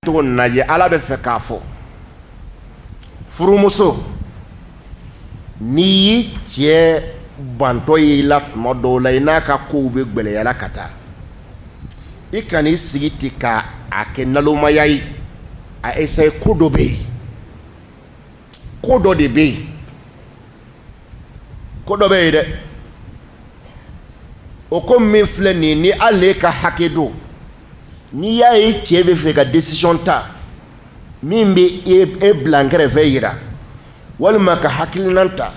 cogo nin na ye ala bɛ fɛ k'a fɔ furumuso n'i y'i cɛ bantɔ ye i la tuma dɔw la i n'a ka kow bɛ gwɛlɛya la ka taa i kana i sigi ten ka a kɛ nalomaya ye a esaye ko dɔ bɛ yen ko dɔ de bɛ yen ko dɔ bɛ yen dɛ o ko min filɛ nin ye ni hali n'e ka hakɛ don n'i y'a ye cɛ bɛ fɛ ka decision ta min bɛ e, e bilan kɛrɛfɛ yira walima ka hakilinan ta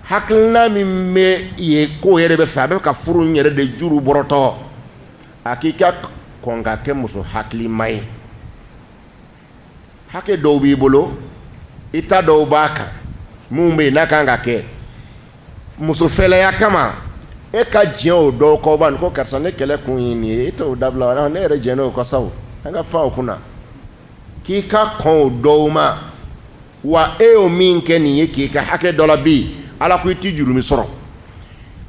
hakilinan min bɛ ye ko yɛrɛ bɛ fɛ a bɛ fɛ ka furu nin yɛrɛ de juru bɔrɔtɔ a k'i ka kɔn ka kɛ muso hakilima ye hakɛ dɔw b'i bolo i ta dɔw b'a kan minnu bɛ yen n'a ka kan ka kɛ musofɛlɛya kama e ka diɲɛ o dɔw kɔ b'a ko karisa ni kɛlɛ kun ye nin ye e t'o dabila wa ne yɛrɛ diɲɛna o kɔ sa an ka pan o kunna k'i ka kɔn o dɔw ma wa e y'o min kɛ nin ye k'i ka hakɛ dɔ labin ala ko i tɛ jurumi sɔrɔ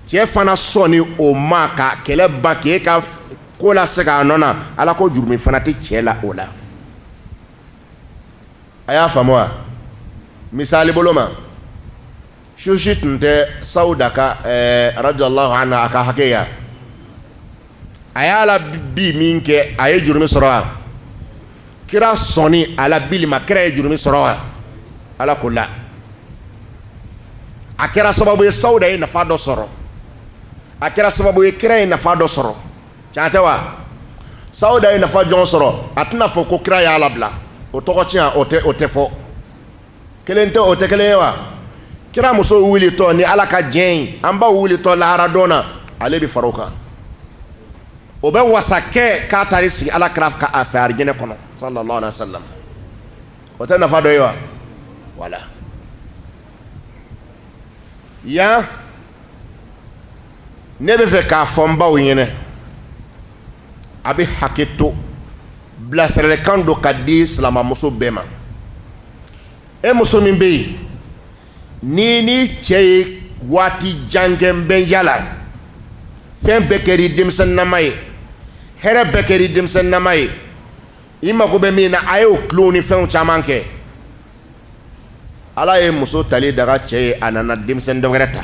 cɛ fana sɔnni o ma ka kɛlɛ ban k'e ka ko lasegin a nɔ na ala ko jurumi fana tɛ cɛ la o la a y'a faamu wa misali bolo ma susi tun tɛ sawuda ka ɛɛ radiyalahu anha ka hakɛ ye wa a y'a labin min kɛ a ye jurumi sɔrɔ wa kira sɔnni a labinni ma kira ye jurumi sɔrɔ wa ala ko la a kɛra sababu ye sawuda ye nafa dɔ sɔrɔ a kɛra sababu ye kira ye nafa dɔ sɔrɔ tiɲɛ tɛ wa sawuda ye nafa jɔn sɔrɔ a tɛna fɔ ko kira y'a labila o tɔgɔ tiɲɛ o tɛ o tɛ fɔ kelen tɛ o tɛ kelen ye wa kira muso wulitɔ ni ala ka diɲɛ ye an baw wulitɔ laharadon na ale bɛ fara o kan o bɛ wasa kɛ k'a taara i sigi ala kira ka a fɛ arijɛnɛ kɔnɔ sallallahu alaihi wa sallam o tɛ nafa dɔ ye wa wala yan ne bɛ fɛ k'a fɔ n baw ɲɛna a bɛ hakɛ to bilasiralikan don ka di silamɛmuso bɛɛ ma e muso min bɛ yen n'i ni cɛ ye waati jan kɛ nbɛnja la fɛn bɛɛ kɛra i denmisɛnninama ye hɛrɛ bɛɛ kɛra i denmisɛnninama ye i mago bɛ min na a y'o tulon ni fɛnw caman kɛ ala ye muso tali daga cɛ ye a nana denmisɛnnin dɔ wɛrɛ ta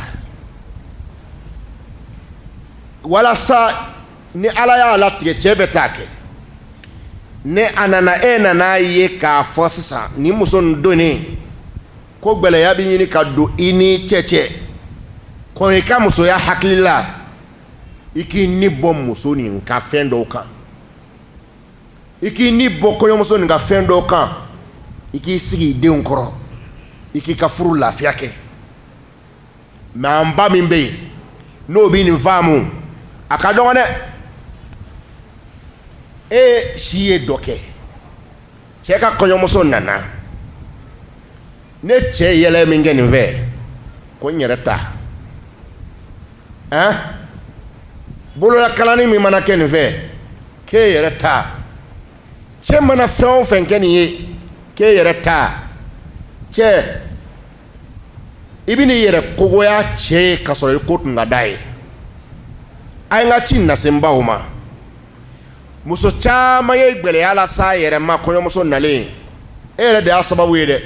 walasa ni ala y'a latigɛ cɛ bɛ taa kɛ ni a nana e nana ye k'a fɔ sisan nin muso nin donnen kɔ gɛlɛya bɛ ɲini ka don i ni cɛ cɛ kɔn i ka musoya hakili la i k'i ni bɔ muso nin ka fɛn dɔw kan i k'i ni bɔ kɔɲɔmuso nin ka fɛn dɔ kan i k'i sigi i denw kɔrɔ i k'i ka furu lafiya kɛ mais an ba min bɛ yen n'o bɛ nin faamu a ka dɔgɔn dɛ e si ye dɔ kɛ cɛ ka kɔɲɔmuso nana ne cɛ yɛlɛ min kɛ nin fɛ ko n yɛrɛ ta ɛn bololakalani min mana kɛ nin fɛ k'e yɛrɛ ta cɛ mana fɛn o fɛn kɛ nin ye k'e yɛrɛ ta cɛ i bɛn'i yɛrɛ ko goya cɛ ye k'a sɔrɔ i ko tun ka d'a ye a ye n ka ci nase n baw ma muso caman ye gɛlɛya las'a yɛrɛ ma kɔɲɔmuso nalen e yɛrɛ de y'a sababu ye dɛ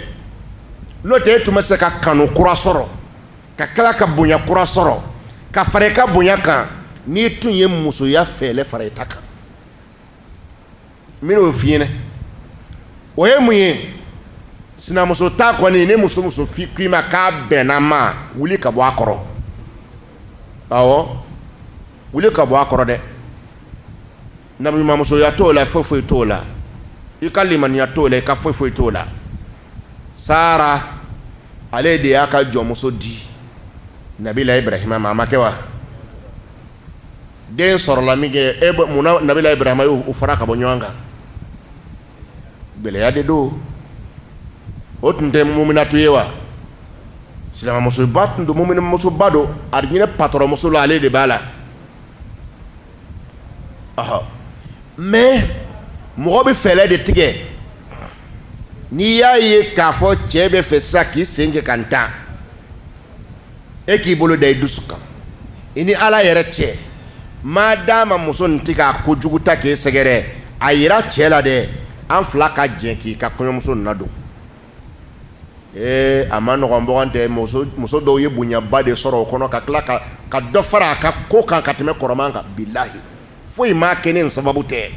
n'o tɛ e tun bɛ se ka kanu kura sɔrɔ ka tila ka bonya kura sɔrɔ ka fara i ka bonya kan n'i tun ye musoya fɛɛlɛ fara i ta kan n bɛna o f'i ɲɛna o ye mun ye sinamuso ta kɔni ni muso muso fi k'i ma k'a bɛnn'a ma wuli ka bɔ a kɔrɔ awɔ wuli ka bɔ a kɔrɔ dɛ nabiɲumanmusoya t'o la foyi foyi t'o la i ka limaniya t'o la i ka foyi foyi t'o la sara ale de y'a ka jɔnmuso di nabilayi ibrahima ma a ma kɛ wa den sɔrɔla min kɛ e mun na nabilayi ibrahima y'o fara ka bɔ ɲɔgɔn kan gɛlɛya de don o tun tɛ muminatu ye wa silamɛmusoba tun don muminmusoba don alijinɛ patɔrɔnmuso la ale de b'a la ɔhɔ mais mɔgɔ bɛ fɛɛrɛ de tigɛ n'i y'a ye k'a fɔ cɛ bɛ fɛ sisan k'i sen kɛ ka n tan e k'i bolo da i dusu kan i ni ala yɛrɛ cɛ maa d'a ma muso nin tɛ ka kojugu ta k'e sɛgɛrɛ a yira cɛ la dɛ an fila ka jɛ k'i ka kɔɲɔmuso ladon ee a man nɔgɔn bɔgɔn tɛ muso dɔw ye bonyaba de sɔrɔ o kɔnɔ ka tila ka ka dɔ fara a ka ko kan ka tɛmɛ kɔrɔman kan bilahi foyi m'a kɛ n'e sababu tɛ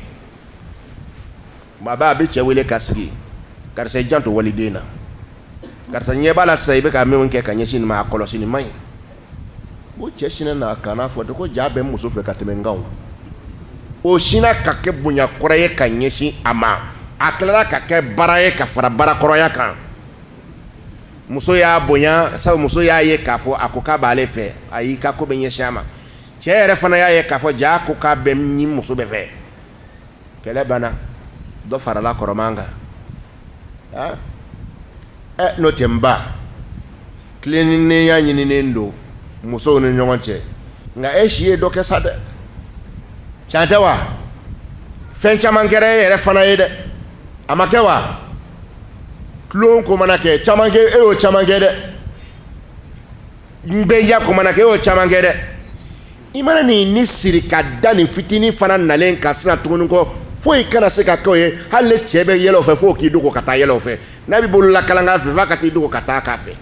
Maa a bɛ cɛ wele ka sigi karisa janto waliden na karisa ɲɛ b'a la sa i bɛ ka min kɛ ka ɲɛsin maa kɔlɔsi ma ɲi o cɛ sin na kana fɔ de ko jaa bɛ muso fɛ ka tɛmɛ kan o sin ka kɛ bonya kura ye ka ɲɛsin a ma a tilala ka kɛ bara ye ka fara bara kɔrɔya kan muso y'a bonya sabu muso y'a ye k'a fɔ a ko k'a b'ale fɛ a y'i ka ko bɛ ɲɛsin a ma cɛ yɛrɛ fana y'a ye k'a fɔ jaa ko k'a bɛ ni muso bɛ fɛ kɛlɛ banna dɔ farala kɔrɔman kan ah. eh, n'o tɛ n ba tilennenya ɲininen don musow ni ɲɔgɔn cɛ nka e si ye dɔ kɛ sa dɛ can tɛ wa fɛn caman kɛra e yɛrɛ fana ye dɛ a ma kɛ wa tulon ko mana kɛ e y'o caman kɛ dɛ ɲɛnajɛ ko mana kɛ e y'o caman kɛ dɛ i mana nin ni siri ka da nin fitinin fana nalen kan sisan tuguni ko foyi kana se ka kɛ u ye hali ni cɛ bɛ yɛlɛ u fɛ fo k'i dogo ka taa yɛlɛ u fɛ n'a bɛ bolo la kalankan fɛ f'a ka t'i dogo ka taa k'a fɛ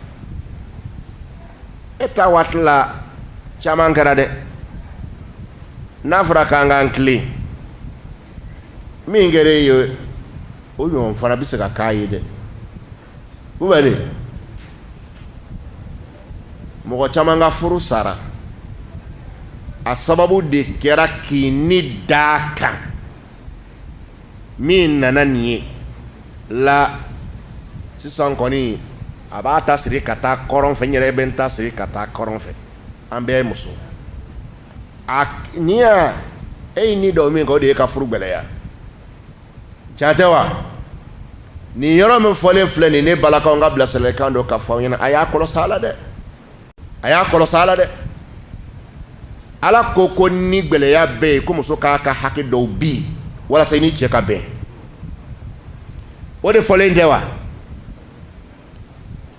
e ta waati la caman kɛra dɛ n'a fɔra k'an k'an tilen min kɛra e ye o ɲɔgɔn fana bɛ se ka k'a ye dɛ mɔgɔ caman ka furu sara a sababu de kɛra k'i ni d'a kan min nana nin ye la sisan kɔni a b'a ta siri ka taa kɔrɔn fɛ n yɛrɛ bɛ n ta siri ka taa kɔrɔn fɛ an bɛɛ ye muso a n'i y'a e ye nin dɔ min kɛ o de ye ka furu gɛlɛya can tɛ wa nin yɔrɔ min fɔlen filɛ nin ne balakaw ka bilasiralikan don ka fɔ a ɲɛna a y'a kɔlɔsi a la dɛ a y'a kɔlɔsi a la dɛ ala ko ko ni gɛlɛya bɛ yen ko muso k'a ka hakɛ dɔw bin walasa i ni cɛ ka bɛn o de fɔlen tɛ wa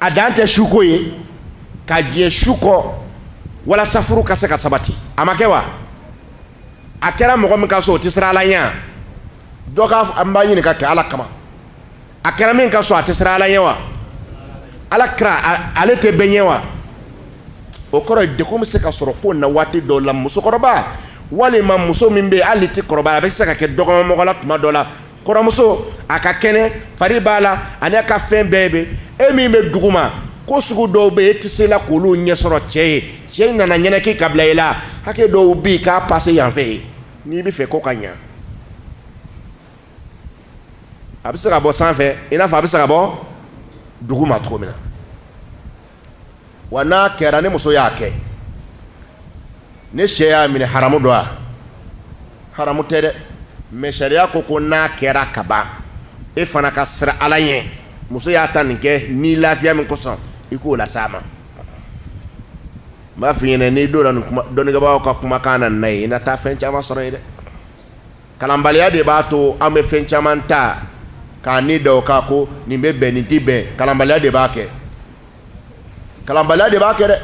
a dan tɛ suko ye ka diɲɛ su kɔ walasa furu ka se ka sabati a ma kɛ wa a kɛra mɔgɔ min ka so o tɛ siran ala ɲɛ wa donc an b'a ɲininka kɛ ala kama a kɛra min ka so a tɛ siran ala ɲɛ wa ala kira ale tɛ bɛɛ ɲɛ wa o kɔrɔ ye degun bɛ se ka sɔrɔ ko in na waati dɔw la musokɔrɔba walima muso min bɛ yen hali tɛ kɔrɔbaya a bɛ se ka kɛ dɔgɔmamɔgɔ la tuma dɔ la kɔrɔmuso a ka kɛnɛ fari b'a la ani a ka fɛn bɛɛ bɛ e min bɛ dugu ma ko sugu dɔw bɛ e tɛ se la k'olu ɲɛsɔrɔ cɛ ye cɛ nana ɲɛnɛki ka bila i la hakɛ dɔw bɛ yen k'a pase yan fɛ ye n'i bɛ fɛ ko ka ɲa a bɛ se ka bɔ sanfɛ i n'a fɔ a bɛ se ka bɔ dugu ma cogo min na wa n'a kɛra ni muso y'a kɛ ni cɛ y'a minɛ haramu don wa haramu tɛ dɛ mɛ sariya ko ko n'a kɛra ka ban e fana ka siran ala ɲɛ muso y'a ta nin kɛ ni lafiya min kosɔn i k'o lase a ma n b'a f'i ɲɛna n'i donna dɔnnibagaw ka kumakan na na ye i na taa fɛn caman sɔrɔ yen dɛ kalanbaliya de b'a to an bɛ fɛn caman ta ka nin da o kan ko nin bɛ bɛn nin tɛ bɛn kalanbaliya de b'a kɛ kalanbaliya de b'a kɛ dɛ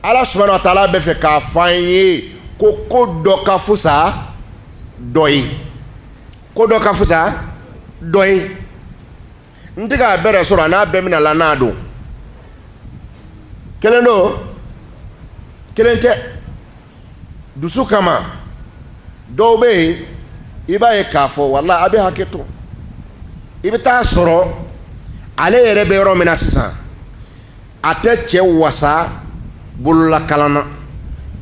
ala subahana wa taala bɛ fɛ k'a fɔ an ye ko ko dɔ ka fusa dɔ ye ko dɔ ka fusa dɔ ye n tɛ k'a bɛrɛ sɔrɔ a n'a bɛɛ mina la n'a don kelen don kelen tɛ dusu kama dɔw bɛ yen i b'a ye k'a fɔ walahi a bɛ hakɛ to i bɛ taa sɔrɔ ale yɛrɛ bɛ yɔrɔ min na sisan a tɛ cɛ wasa bololakalan na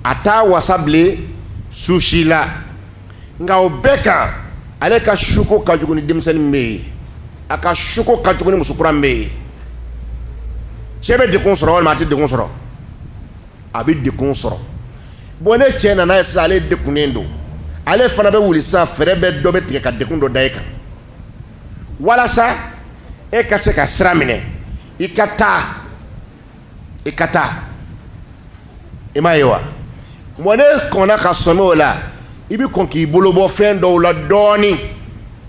a t'a wasa bilen su si la nka o bɛɛ kan ale ka suko ka jugu ni denmisɛnnin bɛɛ ye a ka suko ka jugu ni musokura bɛɛ ye cɛ bɛ dekun sɔrɔ walima a tɛ dekun sɔrɔ a bɛ dekun sɔrɔ bɔn ni cɛ nana yen sisan ale dekunnen don ale fana bɛ wuli sisan fɛɛrɛ bɛ dɔ bɛ tigɛ ka dekun dɔ da e kan walasa e ka se ka sira minɛ i ka taa i ka taa i m'a ye wa mɛ n'e kɔnna ka sɔmi o la i bɛ kɔn k'i bolo bɔ fɛn dɔw la dɔɔnin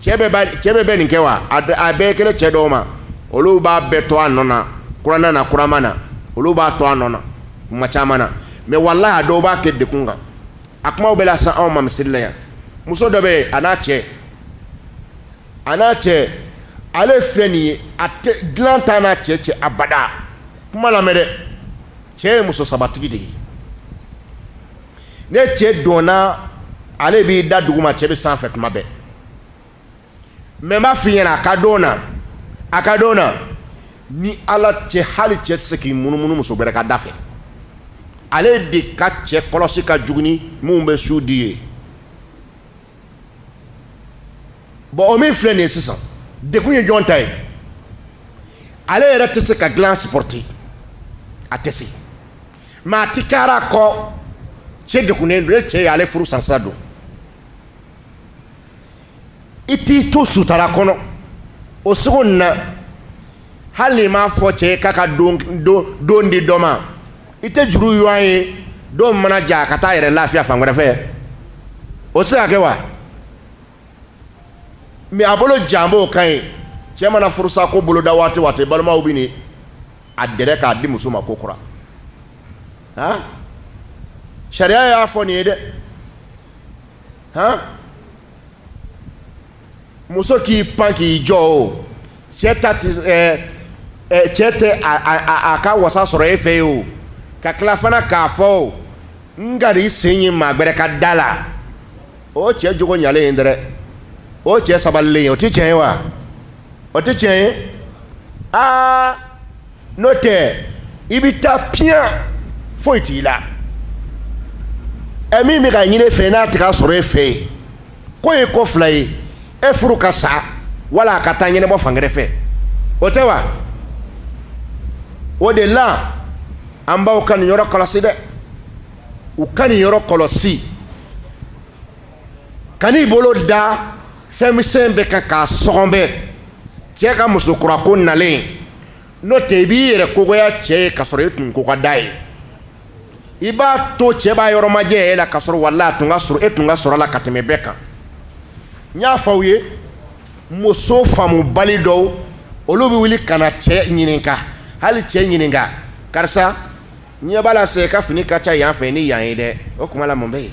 cɛ bɛɛ b'a cɛ bɛɛ bɛ nin kɛ wa a a bɛɛ kelen cɛ dɔw ma olu b'a bɛɛ to a nɔ na kuranna na kurama na olu b'a to a nɔ na tuma caman na mɛ walahi a dɔw b'a kɛ dekun kan a kumaw bɛ lase anw ma misiri la yan muso dɔ bɛ yen a n'a cɛ a n'a cɛ ale filɛ nin ye a dilan t'a n'a cɛ cɛ abada kuma lamɛn dɛ cɛ ye muso sabatigi de ye ni cɛ donna ale b'i da dugu ma cɛ bɛ sanfɛ tuma bɛɛ mɛ n b'a f'i ɲɛna a ka don na a ka don na ni ala cɛ hali cɛ tɛ se k'i munumunu muso wɛrɛ ka da fɛ ale de ka cɛ kɔlɔsi ka jugu ni minnu bɛ su di ye bɔn o min filɛ nin ye sisan dekun ye jɔn ta ye ale yɛrɛ tɛ se ka dilan sipɔrite a tɛ se mɛ a ti kara kɔ cɛ dekunnen don e cɛ ye ale furu sansira don i t'i to sutara kɔnɔ o cogo na hali n'i m'a fɔ cɛ ye k'a ka don don di dɔ ma i tɛ juru ɲɔgɔn ye don mana ja ka taa yɛrɛ lafiya fan wɛrɛ fɛ o tɛ se ka kɛ wa mɛ a bolo jan b'o kan ye cɛ mana furusa ko boloda waati waati balimaw bɛ nin a dɛrɛ k'a di muso ma kokura han sariya y'a fɔ nin ye dɛ han muso k'i pan k'i jɔ o cɛ ta tɛ ɛɛ ɛɛ cɛ tɛ a a a ka wasa sɔrɔ e fɛ yen o ka tila fana k'a fɔ o n kan'i sen ye maa gbɛrɛ ka da la o cɛ jogo ɲalen ye dɛrɛ o cɛ sabalilen ye o tɛ tiɲɛ ye wa o tɛ tiɲɛ ye aa n'o tɛ i bɛ taa piyan foyi t'i la ɛ min bɛ ka ɲini e fɛ n'a tɛ k'a sɔrɔ e fɛ yen. ko ye ko fila ye e furu ka sa wala a ka t'a ɲɛnabɔ fan wɛrɛ fɛ o tɛ wa o de la an baw ka nin yɔrɔ kɔlɔsi dɛ u ka nin yɔrɔ kɔlɔsi kan'i bolo da fɛn misɛn bɛɛ kan k'a sɔgɔbɛ cɛ ka musokurako nalen n'o tɛ i b'i yɛrɛ ko goya cɛ ye k'a sɔrɔ i tun ko ka d'a ye i b'a to cɛ b'a yɔrɔ majanya e la k'a sɔrɔ wala a tun ka surun e tun ka surun a la ka tɛmɛ bɛɛ kan n y'a fɔ aw ye muso faamubali dɔw olu bɛ wuli ka na cɛ ɲininka hali cɛ ɲininka karisa ɲɛ b'a la cɛ ka fini ka ca yan fɛ ni yan ye dɛ o kuma la mun bɛ yen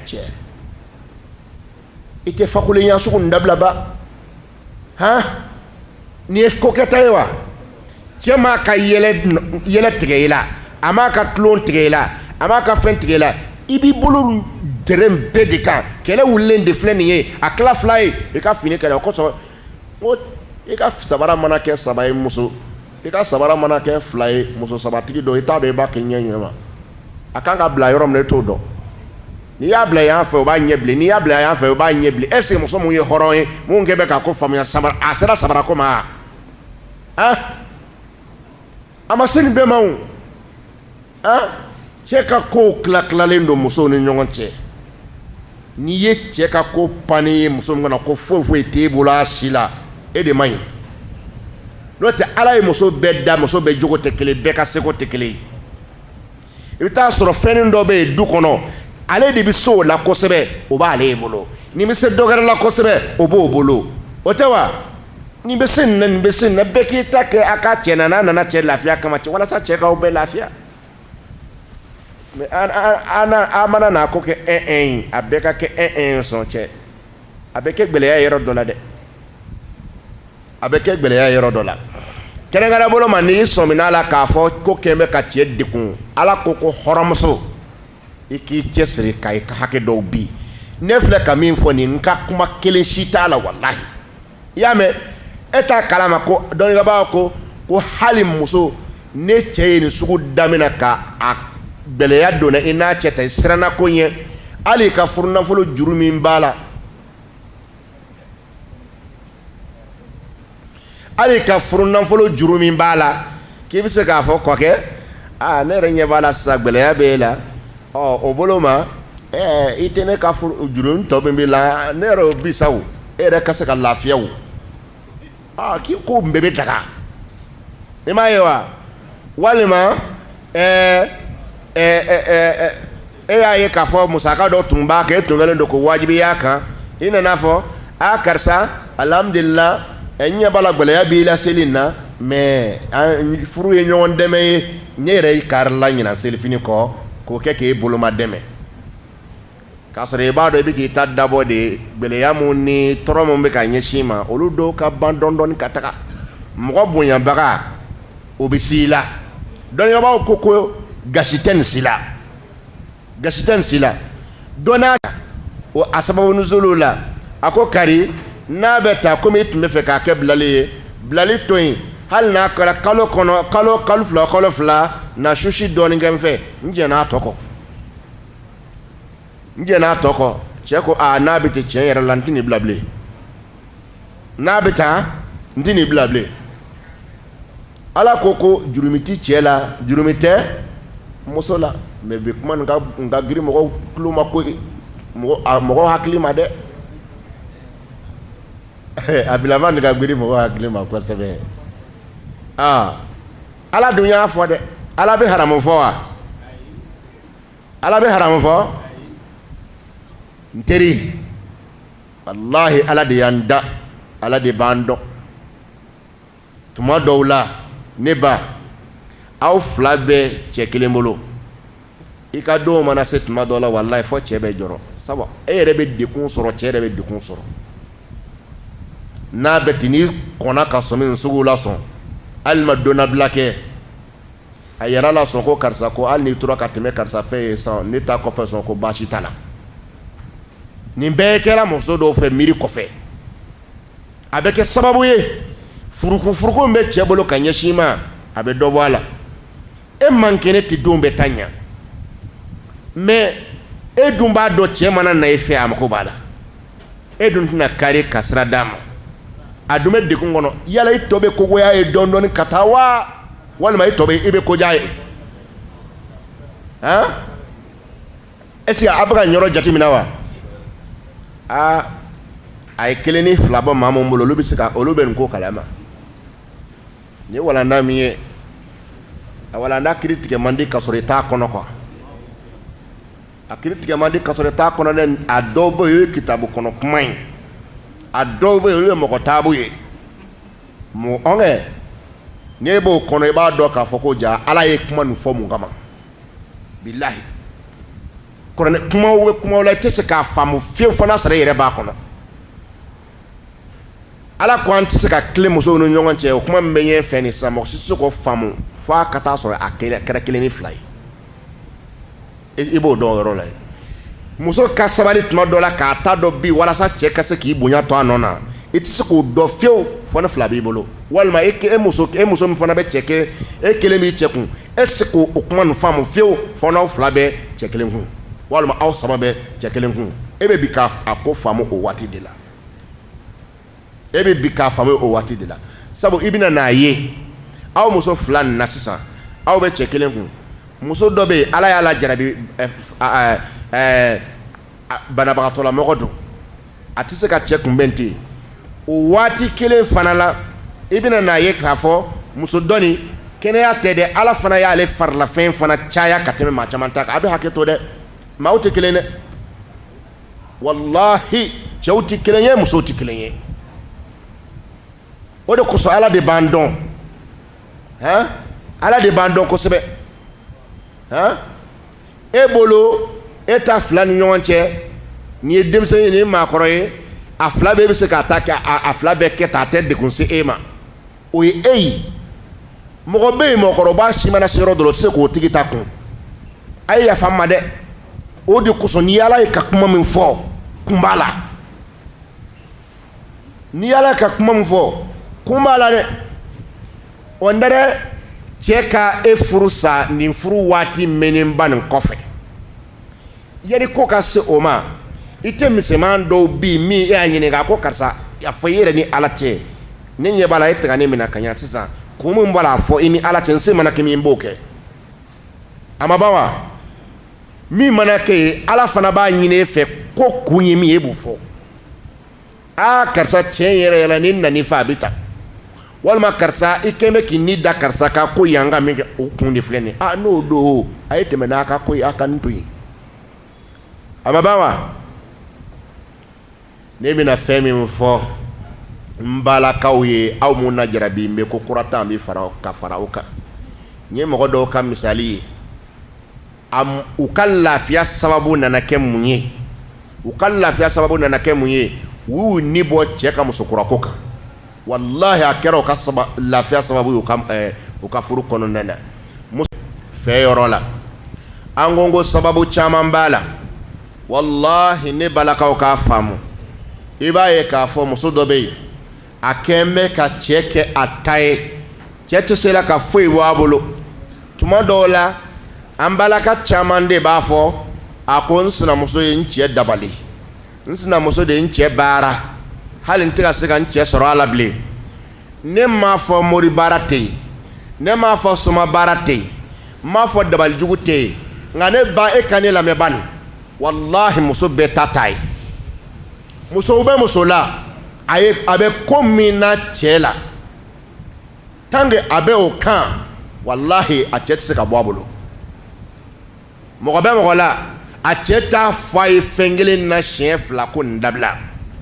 cɛ i tɛ fakulenya sugu nin dabilaba han nin ye ko kɛta ye wa cɛ m'a ka yɛlɛ tigɛ i la a m'a ka tulon tigɛ i la a m'a ka fɛn tigɛ i la i b'i bolo dɛrɛn bɛɛ de kan kɛlɛ wulilen de filɛ nin ye a tila fila ye i ka fini kɛlɛ o kosɔn ko i ka sabara mana kɛ saba ye muso i ka sabara mana kɛ fila ye muso sabatigi dɔ i t'a dɔn i b'a kɛ ɲɛ ɲɛ ma a kan ka bila yɔrɔ min na i t'o dɔn n'i y'a bila yan fɛ o b'a ɲɛ bilen n'i y'a bila yan fɛ o b'a ɲɛ bilen est-ce que muso mun ye hɔrɔn ye mun kɛ bɛ ka ko faamuya sabara a sera sabara ko ma an a ma se nin bɛɛ ma o an cɛ ka kow tila tilalen don musow ni ɲɔgɔn cɛ n'i ye cɛ ka ko pannen ye muso min kan a ko foyi foyi t'e bolo a si la e de man ɲi n'o tɛ ala ye muso bɛɛ da muso bɛɛ jogo tɛ kelen bɛɛ ka seko tɛ kelen ye i bɛ t'a sɔrɔ fɛnnin dɔ bɛ yen du kɔnɔ ale de bɛ se o la kosɛbɛ o b'ale ye bolo nin bɛ se dɔgɛrɛ la kosɛbɛ o b'o bolo o tɛ wa nin bɛ se nin na nin bɛ se nin na bɛɛ k'i ta kɛ a ka cɛ na n'a nana cɛ lafiya kama cɛ walasa cɛ k'aw bɛɛ lafiya mɛ an mana n'a ko kɛ ɛn ɛn ye a bɛɛ ka kɛ ɛn ɛn ye sɔn cɛ a bɛ kɛ gɛlɛya yɔrɔ dɔ la dɛ a bɛ kɛ gɛlɛya yɔrɔ dɔ la kɛrɛnkɛrɛn bolo ma n'i sɔmina la k'a fɔ ko kɛn bɛ ka cɛ degun ala ko ko hɔrɔnmuso i k'i cɛsiri ka i ka hakɛ dɔw bin ne filɛ ka min fɔ nin n ka kuma kelen si t'a la walahi i y'a mɛn e t'a kalama ko dɔnnikɛbaaw ko ko hali muso n'e cɛ ye nin sugu damina ka a gɛlɛya donna i n'a cɛ ta i siranna ko ɲɛ hali ka furunafolo juru min b'a la hali ka furunafolo juru min b'a la k'i bɛ se k'a fɔ kɔkɛ aa ne yɛrɛ ɲɛ b'a la sisan gɛlɛya bɛ e la ɔ o bolo ma ɛɛ i tɛ ne ka juru tɔ min b'i la ne yɛrɛ o bisa o e yɛrɛ ka se ka lafiya o aa k'i ko bɛɛ bɛ daga i m'a ye wa walima ɛɛ ɛɛ ɛɛ e y'a ye k'a fɔ musaka dɔ tun b'a kan e tun kɛlen don ko wajibi y'a kan i nana fɔ a karisa alhamdulila an ɲɛ b'a la gɛlɛya b'i la seli in na mɛ furu ye ɲɔgɔn dɛmɛ ye ne yɛrɛ i karila ɲinan selifini kɔ k'o kɛ k'e bolomadɛmɛ k'a sɔrɔ i b'a dɔn i bɛ k'i ta dabɔ de gɛlɛya minnu ni tɔɔrɔ minnu bɛ ka ɲɛsin i ma olu dɔw ka ban dɔɔni dɔɔni ka taga mɔgɔ bonyabaga o bɛ si la dɔnnibaaw ko ko gasi tɛ nin si la gasi tɛ nin si la dɔnna o a sababu nuzuli la a ko kari n'a bɛ tan komi i tun b'a fɛ k'a kɛ bilali ye bilali to yen hali n'a kɛra kalo kɔnɔ kalo kalo fila kalo fila na susi dɔɔnin kɛ n fɛ n jɛnn'a tɔ kɔ n jɛnn'a tɔ kɔ cɛ ko aa n'a bɛ ten cɛ yɛrɛ la n tɛ nin bila bilen n'a bɛ tan n tɛ nin bila bilen ala ko ko jurumu tɛ cɛ la jurumu tɛ muso la mɛ bi kuma nin ka nin ka giri mɔgɔw tulo ma ko mɔgɔ a mɔgɔ hakili ma dɛ a bilama nin ka giri mɔgɔ hakili ma kosɛbɛ aa ala dun y'a fɔ dɛ ala bɛ haramu fɔ wa. ala bɛ haramu fɔ n teri walahi ala de y'an da ala de b'an dɔn tuma dɔw la ne ba aw fila bɛ cɛ kelen bolo i ka denw mana se tuma dɔw la walahi fɔ cɛ bɛ jɔrɔ sabu e yɛrɛ bɛ degun sɔrɔ cɛ yɛrɛ bɛ degun sɔrɔ n'a bɛ ten n'i kɔnna ka sɔmi nin suguw la sɔn hali ma donnabila kɛ a yɛrɛ la sɔn ko karisa ko hali n'i tora ka tɛmɛ karisa fɛ yen sa ne ta kɔfɛ sɔn ko baasi t'a la nin bɛɛ kɛra muso dɔw fɛ miiri kɔfɛ a bɛ kɛ sababu ye furukufuruku min bɛ cɛ bolo ka ɲɛsin i ma a bɛ dɔ bɔ a la e man kɛnɛ tɛ don bɛ ta ɲa mɛ e dun b'a dɔn cɛ mana na e fɛ a mako b'a la e dun tɛna kari ka sira d'a ma a dun bɛ degun kɔnɔ yala i tɔ bɛ ko goya ye dɔɔnin dɔɔnin ka taa wa walima i tɔ bɛ i bɛ ko diya ye han est-ce que a bɛ ka nin yɔrɔ jateminɛ wa aa a ye kelen ni fila bɛ maa minnu bolo olu bɛ se ka olu bɛ nin ko kalama nin ye walanda min ye a walanda kiri tigɛ man di ka sɔrɔ i t'a kɔnɔ quoi a kiri tigɛ man di ka sɔrɔ i t'a kɔnɔ dɛ a dɔw bɛ yen o ye kitabu kɔnɔ kuma ye a dɔw bɛ yen olu ye mɔgɔ taabu ye mɔgɔ ɔnkɛ n'e b'o kɔnɔ i b'a dɔn k'a fɔ ko jaa ala ye kuma nin fɔ mun kama bilahi kɔrɔlɛ kumaw bɛ kumaw la i tɛ se k'a faamu fewu fo n'a sɔrɔ i yɛrɛ b'a kɔnɔ ala ko an tɛ se ka tilen musow ni ɲɔgɔn cɛ o kuma min bɛ ɲɛfɛ nin sisan mɔgɔ si tɛ se k'o faamu fo a ka taa sɔrɔ a kɛra kelen ni fila ye i b'o dɔn yɔrɔ la ye muso ka sabali tuma dɔ la k'a ta dɔ bin walasa cɛ ka se k'i bonya to a nɔ na i tɛ se k'o dɔn fewu fo ni fila b'i bolo walima e e muso e muso min fana bɛ cɛ kɛ e kelen b'i cɛ kun e tɛ se k'o kuma nin faamu fewu fo n'aw fila bɛ cɛ kelen kun walima aw saba bɛ cɛ kelen kun e bɛ bin k'a a ko faamu o waati de la e bɛ bin k'a faamu o waati de la sabu i bɛna n'a ye aw muso fila nin na sisan aw bɛ cɛ kelen kun muso dɔ bɛ yen ala y'a lajarabi banabagatɔlamɔgɔ don a tɛ se ka cɛ kunbɛn ten o waati kelen fana la i bɛna n'a ye k'a fɔ muso dɔ nin kɛnɛya tɛ dɛ ala fana y'ale farilafɛn fana caya ka tɛmɛ maa caman ta kan a bɛ hakɛ to dɛ maaw tɛ kelen dɛ walahi cɛw tɛ kelen ye musow tɛ kelen ye o de kosɔn ala de b'an dɔn han ala de b'an dɔn kosɛbɛ han e bolo e ta fila ni ɲɔgɔn cɛ n'i ye denmisɛn ye n'i ye maakɔrɔ ye a fila bɛɛ bɛ se k'a ta kɛ a fila bɛɛ kɛ ta a tɛ degun se e ma o ye e ye mɔgɔ bɛ yen mɔgɔkɔrɔba si mana se yɔrɔ dɔ la o tɛ se k'o tigi ta kun a ye yafa n ma dɛ o de kosɔn n'i y'Ala ye ka kuma min fɔ kun b'a la n'i y'ala ka kuma min fɔ kun b'a la dɛ o n dɛ cɛ ka e furu sa nin furu waati mɛnnenba nin kɔfɛ yanni ko ka se o ma i tɛ misɛnman dɔw bɛ yen min e y'a ɲininka ko karisa a fɔ i yɛrɛ ni ala cɛ ne ɲɛ b'a la e tɛ ka ne minɛ ka ɲɛ sisan kun min b'a la a fɔ i ni ala cɛ n se mana kɛ min b'o kɛ a ma ban wa min mana kɛ ye ala fana b'a ɲini e fɛ ko kun ye min ye e b'o fɔ aa karisa tiɲɛ yɛrɛ yɛrɛ la ni nani fɛ a bɛ ta walima karisa i kɛlen bɛ k'i ni da karisa ka ko yan ka min kɛ o kun de filɛ nin ye aa n'o don a ye tɛmɛ n'a ka ko ye a ka nin to yen a ma ban wa ne bɛna fɛn min fɔ n balakaw ye aw minnu na jarabi n bɛ ko kura ta bɛ fara ka fara o kan n ye mɔgɔ dɔw ka misali ye u ka lafiya sababu nana kɛ mun ye u ka lafiya sababu nana kɛ mun ye u y'u ni bɔ cɛ ka musokura ko kan walahi a kɛra u lafiya sababu ye u ka furu kɔnɔna na u fɛ yɔrɔ la an ko ko sababu caman b'a la walahi ne balakaw k'a faamu i b'a ye k'a fɔ muso dɔ bɛ yen a kɛlen bɛ ka cɛ kɛ a ta ye cɛ tɛ se la ka foyi bɔ a bolo tuma dɔw la an balaka caman de b'a fɔ a ko n sinamuso ye n cɛ dabali n sinamuso de ye n cɛ baara hali n tɛ ka se ka n cɛ sɔrɔ a la bilen ne m'a fɔ mori baara tɛ yen ne m'a fɔ soma baara tɛ yen n m'a fɔ dabalijugu tɛ yen nka ne ba e ka ne lamɛn bani walahi muso bɛɛ ta ta ye musow bɛ muso la a ye a bɛ ko min na cɛ la tant que a bɛ o kan walahi a cɛ tɛ se ka bɔ a bolo mɔgɔ bɛ mɔgɔ la a cɛ t'a fɔ a ye fɛn kelen na siɲɛ fila ko nin dabila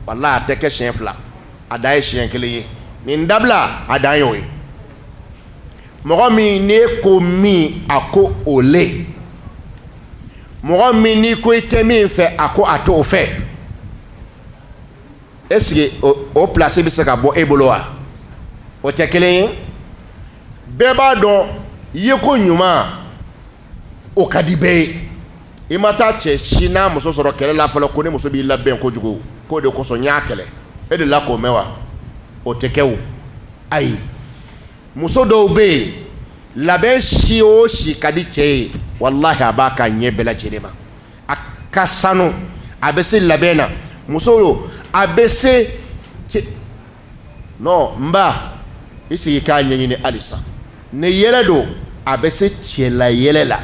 walahi a tɛ kɛ siɲɛ fila a dan ye siɲɛ kelen ye nin dabila a dan y'o ye mɔgɔ min n'e ko min a ko o le mɔgɔ min n'i ko i tɛ min fɛ a ko a t'o fɛ est ce que o, o place bɛ se ka bɔ e bolo wa o tɛ kelen ye bɛɛ b'a dɔn yeko ɲuman o ka di bɛɛ ye i ma taa cɛ si n'a muso sɔrɔ kɛlɛ la fɔlɔ ko ne muso b'i labɛn kojugu k'o de kosɔn n y'a kɛlɛ e delila k'o mɛn wa o tɛ kɛ o ayi muso dɔw bɛ yen labɛn si o si ka di cɛ ye walahi a b'a kɛ ɲɛ bɛɛ lajɛlen ma a ka sanu a bɛ se labɛn na muso yo a bɛ se n ba i sigi k'a ɲɛɲini halisa ni yɛlɛ don a bɛ se cɛla yɛlɛ la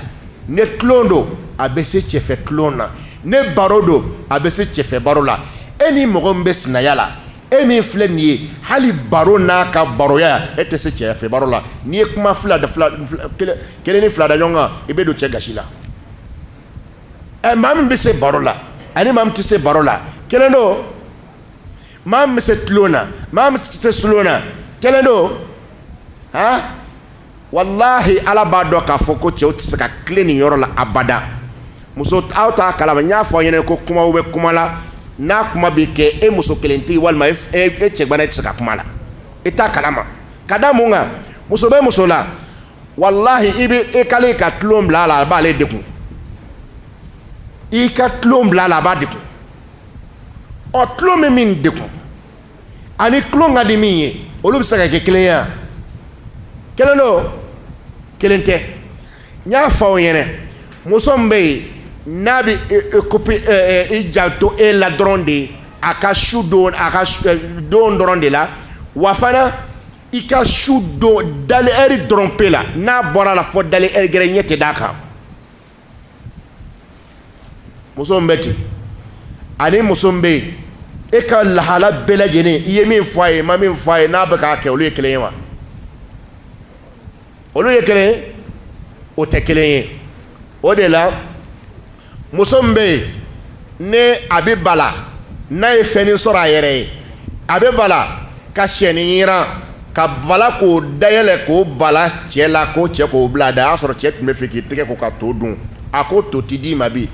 ni tulon don a bɛ se cɛfɛ tulon na ni baro don a bɛ se cɛfɛ baro la e ni mɔgɔ min bɛ sinaya la e min filɛ nin ye hali baro n'a ka baroya e tɛ se cɛfɛ baro la n'i ye kuma fila da fila kelen ni fila da ɲɔgɔn kan i bɛ don cɛ gasi la ɛ maa min bɛ se baro la ani maa min tɛ se baro la kelen don maa min bɛ se tulon na maa min tɛ se tulon na kelen don han walahi ala b'a dɔn k'a fɔ ko cɛw tɛ se ka tilen nin yɔrɔ la abada muso aw t'a kalama n y'a fɔ aw ɲɛna ko kumaw bɛ kuma la n'a kuma bɛ kɛ e muso kelentigi walima e cɛgbana e tɛ se ka kuma a la i t'a kalama ka da mun kan muso bɛ muso la walahi i bɛ i kali i ka tulon bila a la a b'ale degun i ka tulon bila a la a b'a degun ɔ tulon bɛ min degun ani tulon ka di min ye olu bɛ se ka kɛ kelen ye wa kelen don kelen tɛ n y'a fɔ aw ɲɛna muso min bɛ yen n'a bɛ kopi i janto e la dɔrɔn de ye a ka su don a ka don dɔrɔn de la wa fana i ka su don dali ɛri dɔrɔn pe la n'a bɔra la fɔ dali ɛri gɛrɛ ɲɛ tɛ d'a kan muso min bɛ ten ani muso min bɛ yen e ka lahala bɛɛ lajɛlen i ye min fɔ a ye i ma min fɔ a ye n'a bɛ k'a kɛ olu ye kelen ye wa olu ye kelen ye o tɛ kelen ye o de la muso min bɛ yen ni a bɛ bala n'a ye fɛnnin sɔrɔ a yɛrɛ ye a bɛ bala ka syɛnin yiran ka bala k'o dayɛlɛ k'o bala cɛ la k'o cɛ k'o bila a da a y'a sɔrɔ cɛ tun bɛ fɛ k'i tɛgɛ ko ka to dun a ko to ti di i ma bi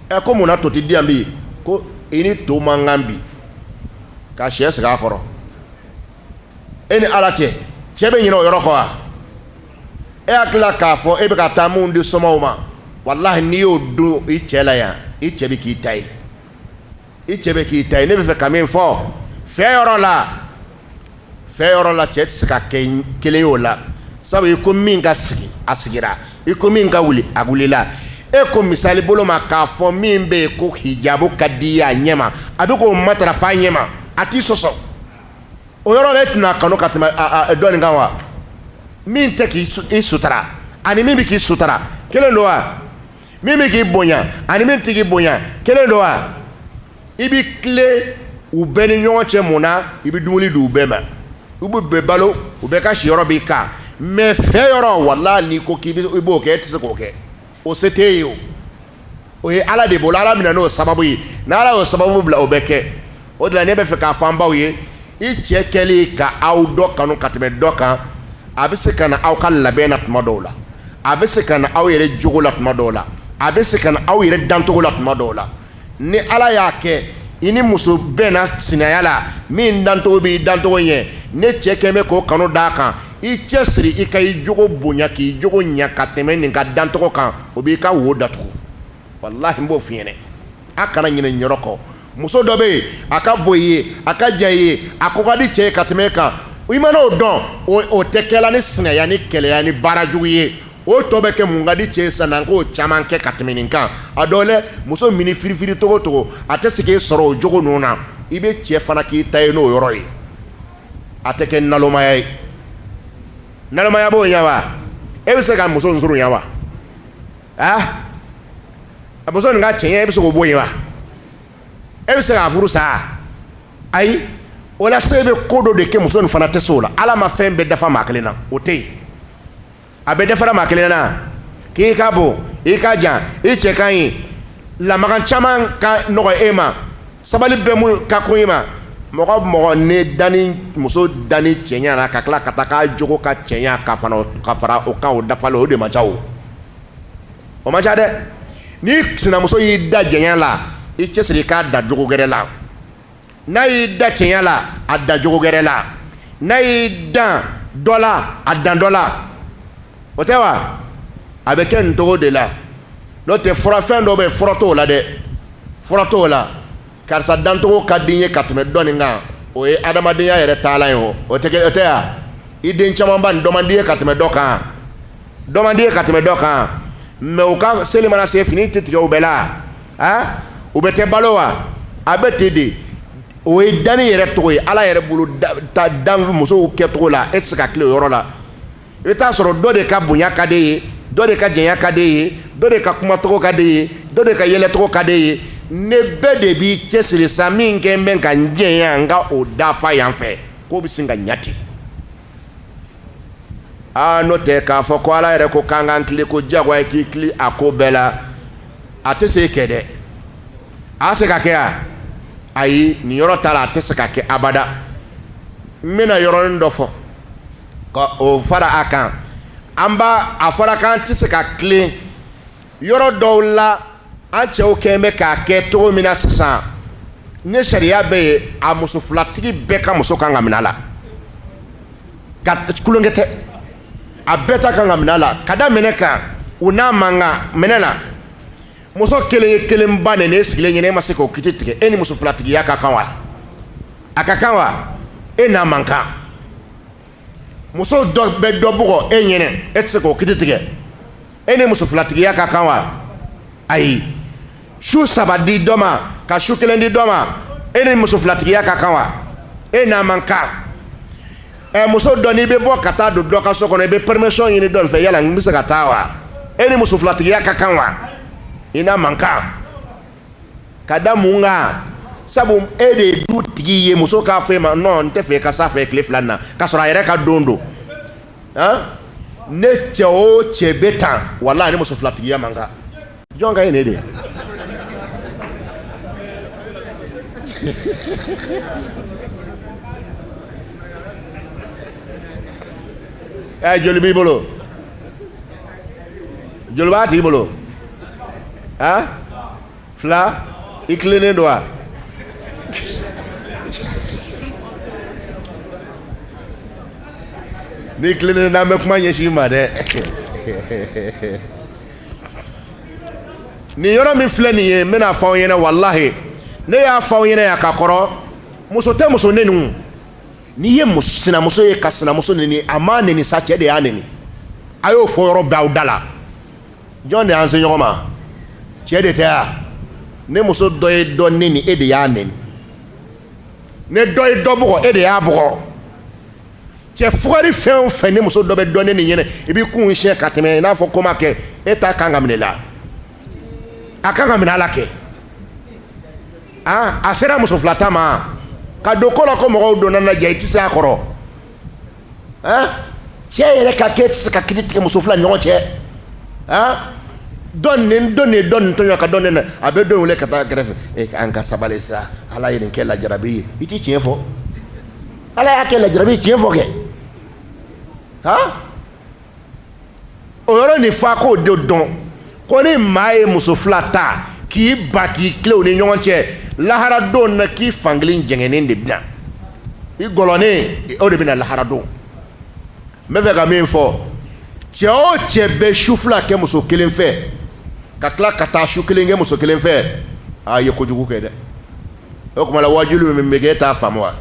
a ko mun na to ti di n ma bi ko i ni to man kan bi ka syɛ sigi a kɔrɔ e ni ala cɛ cɛ bɛ ɲinɛ o yɔrɔ kɔ wa e hakili la k'a fɔ e bɛ ka taa minnu di somaw ma walahi n'i y'o dun i cɛ la yan i cɛ bɛ k'i ta ye i cɛ bɛ k'i ta ye ne bɛ fɛ ka min fɔ fɛ yɔrɔ la fɛ yɔrɔ la cɛ tɛ se ka kɛ kelen y'o la sabu i ko min ka sigi a sigira i ko min ka wuli a wulila e ko misali bolo ma k'a fɔ min bɛ yen ko hijabu ka di i ye a ɲɛma a bɛ k'o matarafa a ɲɛma a t'i sɔsɔ o yɔrɔ la e tɛna a kanu ka tɛmɛ dɔ nin kan wa min tɛ k'i sutara ani min bɛ k'i sutara kelen don wa min bɛ k'i bonya ani min tɛ k'i bonya kelen don wa i bɛ tilen u bɛɛ ni ɲɔgɔn cɛ mun na i bɛ dumuni di u bɛɛ ma i b'u bɛɛ balo u bɛɛ ka siyɔrɔ b'i kan mɛ fɛ yɔrɔ wala n'i ko k'i b'o kɛ e tɛ se k'o kɛ o se t'e ye o o ye ala de bolo ala mana n'o sababu ye n' ala y'o sababu bila o bɛ kɛ o de la ne bɛ fɛ k'a fɔ an baw ye i cɛ kɛli ka aw dɔ kanu ka tɛmɛ dɔ kan a bɛ se ka na aw ka labɛn na tuma dɔw la a bɛ se ka na aw yɛrɛ jogo la tuma dɔw la a bɛ se ka na aw yɛrɛ dancogo la tuma dɔw la ni ala y'a kɛ i ni muso bɛnna sinaya la min dancogo b'i dancogo ɲɛ n'i cɛ kɛlen bɛ k'o kanu d'a kan i cɛsiri i ka i jogo bonya k'i jogo ɲa ka tɛmɛ nin ka dancogo kan o b'i ka wo datugu walahi n b'o f'i ɲɛna a kana ɲinɛ nin yɔrɔ kɔ muso dɔ bɛ yen a ka bon i ye a ka jan i ye a ko ka di cɛ ye ka tɛmɛ e kan i mana o dɔn o tɛ kɛla ni sinaya ni keleya ni baara jugu ye o tɔ bɛ kɛ mun ka di cɛ ye sisan n'an k'o caman kɛ ka tɛmɛ nin kan a dɔw lɛ muso mini firifiri togo togo a tɛ se k'e sɔrɔ o jogo ninnu na i bɛ cɛ fana k'i ta ye n'o yɔrɔ ye a tɛ kɛ nalomaya ye nalomaya b'o ɲɛ wa e bɛ se ka muso nsurunya wa a muso nin ka cɛɲɛ e bɛ se k'o bɔ yen wa e bɛ se k'a furu sa ayi o la sa i bɛ ko dɔ de kɛ muso nin fana tɛ se o la ala ma fɛn bɛɛ dafa maa kelen na o tɛ yen a bɛɛ dafara maa kelen na k'i ka bon i ka jan i cɛ ka ɲi lamaga caman ka nɔgɔ e ma sabali bɛ mun ka ko i ma mɔgɔ mɔgɔ ne dani muso dani cɛɲa na ka tila ka taa k'a jogo ka cɛɲa ka fana ka fara o kan o dafalen o de man ca o o man ca dɛ n'i sinamuso y'i dan jɛya la i cɛsiri i k'a dan jogo gɛrɛ la n'a y'i dan cɛɲa la a dan jogo gɛrɛ la n'a y'i dan dɔ la a dan dɔ la o tɛ wa a bɛ kɛ nto de la n'o tɛ furafɛn dɔ bɛ fura tɔw la dɛ fura tɔw la karisa dancogo ka di n ye ka tɛmɛ dɔ nin kan o ye adamadenya yɛrɛ taalan ye o o tɛ o tɛ yan i den camanba nin dɔ man di ye ka tɛmɛ dɔ kan dɔ man di ye ka tɛmɛ dɔ kan mɛ u ka seli mana se fini tɛ tigɛ u bɛɛ la a u bɛɛ tɛ balo wa a bɛ ten de o ye danni yɛrɛ cogo ye ala yɛrɛ bolo dan musow kɛcogo la e tɛ se ka tilen o yɔrɔ la i bɛ taa sɔrɔ dɔ de ka bonya ka d'e ye dɔ de ka janya ka d'e ye dɔ de ka kumacogo ka d'e ye dɔ de ka yɛlɛcogo ka d'e ye ne bɛɛ de b'i cɛsiri sa min kɛ n bɛ ka n jɛ yan n ka o dafa yan fɛ k'o bɛ se ka ɲa ten aa n'o tɛ k'a fɔ ko ala yɛrɛ ko k'an k'an tilen ko jagoya i k'i tilen a ko bɛɛ la a tɛ se kɛ dɛ a se ka kɛ yan ayi nin yɔrɔ ta la a tɛ se ka kɛ abada n bɛna yɔrɔnin dɔ fɔ ka o fara a kan an b'a a fɔra k'an tɛ se ka tilen yɔrɔ dɔw la an cɛw kɛlen bɛ k'a kɛ cogo min na sisan ne sariya bɛ yen a muso filatigi bɛɛ ka muso kan ka minɛ a la ka tulonkɛ tɛ a bɛɛ ka kan ka minɛ a la ka da mun kan u n'a man kan mun na muso kelen ye kelen ba nɛni e sigilen ɲɛna e ma se k'o kiti tigɛ e ni muso filatigiya ka kan wa a ka kan wa e n'a man kan muso dɔ bɛ dɔ bugɔ e ɲɛna e tɛ se k'o kiti tigɛ e ni muso filatigiya ka kan wa ayi su saba di dɔ ma ka su kelen di dɔ ma e ni muso filatigiya ka kan wa e n'a man kan ɛ muso dɔ n'i bɛ bɔ ka taa don dɔ ka so kɔnɔ i bɛ permission ɲini dɔ fɛ yala n bɛ se ka taa wa e ni muso filatigiya ka kan wa i n'a man kan ka da mun kan sabu e de ye dutigi ye muso k'a fɔ e ma non n t'a fɛ i ka s'a fɛ tile fila in na k'a sɔrɔ a yɛrɛ ka don don ni cɛ o cɛ bɛ ten wala ni muso filatigiya man kan jɔn ka ye ne de ɛ joli b'i bolo joli b'a tigi bolo a fila i tilennen don wa n'i tilennen n'an bɛ kuma ɲɛsin i ma dɛ nin yɔrɔ min filɛ nin ye n bɛna fɔ aw ɲɛna walahi ne y'a fɔ aw ɲɛna yan ka kɔrɔ muso tɛ muso neni n'i ye sinamuso ye ka sinamuso neni a m'a neni sa cɛ de y'a neni a y'o fɔ yɔrɔ bɛɛ aw da la jɔn de y'an se ɲɔgɔn ma cɛ de tɛ wa ni muso dɔ ye dɔ neni e de y'a neni ni dɔ ye dɔ bugɔ e de y'a bugɔ cɛ fugari fɛn o fɛn ni muso dɔ bɛ dɔ neni i ɲɛna i b'i kun siɲɛ ka tɛmɛ i n'a fɔ ko ma kɛ e ta kan ka minɛ i la a kan ka minɛ a la kɛ a a sera muso filata ma ka don ko la ko mɔgɔw donna na jaa i tɛ se a kɔrɔ han cɛ yɛrɛ ka kɛ e tɛ se ka kiri tigɛ muso fila ɲɔgɔn cɛ han dɔ nin dɔ nin dɔ nin tɔɲɔ ka dɔ nin na a bɛ dɔ wele ka taa kɛrɛfɛ e an ka sabali sa ala ye nin kɛ lajarabi ye i tɛ tiɲɛ fɔ ala y'a kɛ lajarabi ye tiɲɛ fɔ kɛ han o yɔrɔ nin fa ko de don ko ni maa ye muso fila ta k'i ban k'i tilen u ni ɲɔgɔn cɛ laharadon na k'i fankelen jɛngɛnen de bɛ na i gɔlɔnen o de bɛ na laharadon n bɛ fɛ ka min fɔ cɛ o cɛ bɛ su fila kɛ muso kelen fɛ ka tila ka taa su kelen kɛ muso kelen fɛ a ye kojugu kɛ dɛ o tuma la wajuli min bɛ kɛ e t'a faamu wa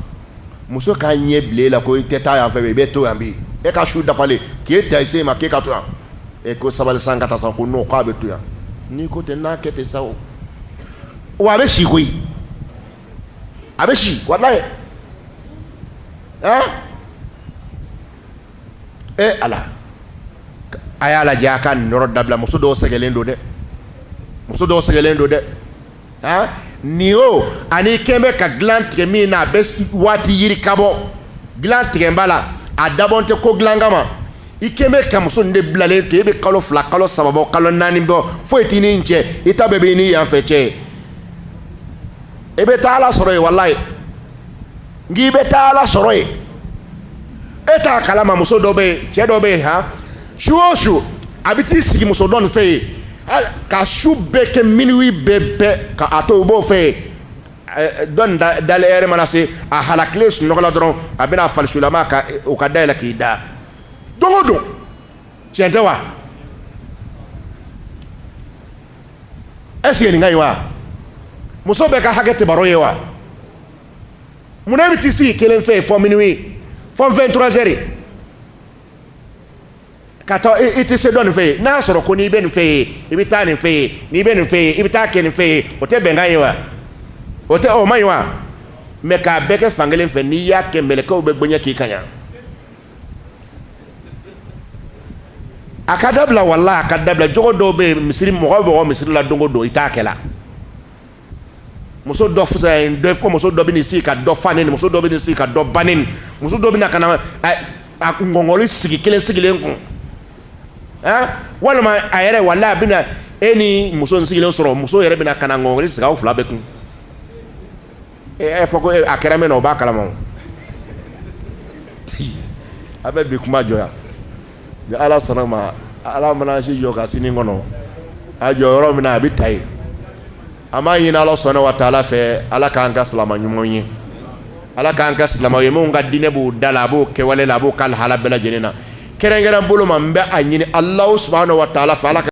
muso k'a ɲɛ bila e la ko i tɛ taa yan fɛ i bɛ to yan bi e ka su dafalen k'e ta i se ma k'e ka to yan e ko sabali sa n ka taa sa ko n'o k'a bɛ to yan n'i ko tɛ n'a kɛ ten sa o wa a bɛ si koyi a bɛ si walayi ɛn e ala a y'a lajɛ a ka nin yɔrɔ dabila muso dɔw sɛgɛnlen don dɛ muso dɔw sɛgɛnlen don dɛ aa nin o ani i kɛlen bɛ ka dilan tigɛ min na a bɛ waati yiri ka bɔ dilan tigɛba la a dabɔn tɛ ko dilan kama i kɛlen bɛ ka muso nin de bilalen to e bɛ kalo fila kalo saba bɔ kalo naani bɔ foyi t'i n'a cɛ i ta bɛɛ b'i ni yanfɛ cɛ e bɛ taa ala sɔrɔ yen walayi n'i bɛ taa ala sɔrɔ yen e t'a kalama muso dɔ bɛ yen cɛ dɔ bɛ yen han su o su a bɛ t'i sigi muso dɔ nin fɛ yen ka su bɛɛ kɛ minuwi bɛɛ bɛɛ ka a to u b'o fɛ yen dɔ nin dalen lɛrɛ mana se a halakilen sunɔgɔ la dɔrɔn a bɛna falisulama ka o ka dayɛlɛ k'i da don o don tiɲɛ tɛ wa est-ce que nin ka ɲi wa muso bɛɛ ka hakɛ tɛ baro ye wa munna i bɛ t'i sigi kelen fɛ fo minuwi fo fɛn trois heures ka taa i tɛ se dɔ nin fɛ yen n'a y'a sɔrɔ ko n'i bɛ nin fɛ yen i bɛ taa nin fɛ yen n'i bɛ nin fɛ yen i bɛ taa kɛ nin fɛ yen o tɛ bɛnkan ye wa o tɛ o ma ye wa mɛ k'a bɛɛ kɛ fankelen fɛ n'i y'a kɛ mɛlɛkaw bɛ bonya k'i kan yan a ka dabila wala a ka dabila jogo dɔw bɛ misiri mɔgɔ mɔgɔ misiri la don o don i t'a kɛ la muso dɔ fisa ye dɔ fɔ muso dɔ bɛ sigi ka dɔ fa ne muso dɔ bɛ sigi ka dɔ ban ne muso dɔ bɛ ka na a ngɔnkɔli sigi kelen sigilen kun ɛn walima a yɛrɛ wala a bɛna e ni muso in sigilen sɔrɔ muso yɛrɛ bɛna ka na ngɔnkɔli sigi aw fila bɛ kun e y'a fɔ ko a kɛra min na o b'a kalama a bɛ bi kuma jɔ yan ni ala sɔnna a ma ala mana si jɔ ka sini kɔnɔ a jɔ yɔrɔ min an b'a ta yen an b'a ɲini ala subahana wa taala fɛ ala k'an kɛ silama ɲumanw ye ala k'an kɛ silama ye minnu ka diinɛ b'o da la a b'o kɛwale la a b'o ka lahala bɛɛ lajɛlen na kɛrɛnkɛrɛn bolo ma n bɛ a ɲini ala subahana wa taala fɛ ala